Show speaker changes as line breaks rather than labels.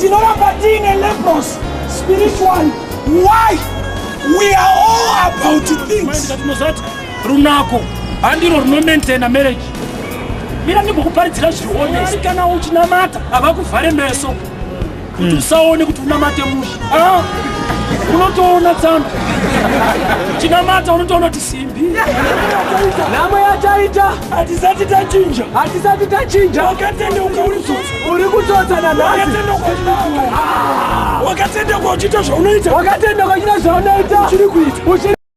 tinoramba tiine lepros spiritual why we are all about things tinozati runako
handiro runomaintaina marriage mira ndimbokuparidzira zviri honest kana uchinamata havakuvhare meso kuti usaone kuti unamate musha ah, unotoona tsano chinamata unotoona kuti simbi
nhamo yataita hatisati tachinja hatisati tachinja wakatendeuka uri tsotsa uri kutsotsa nanhasi wakatendeuka uchiita zvaunoita wakatendeuka uchiita zvaunoita uchiri kuita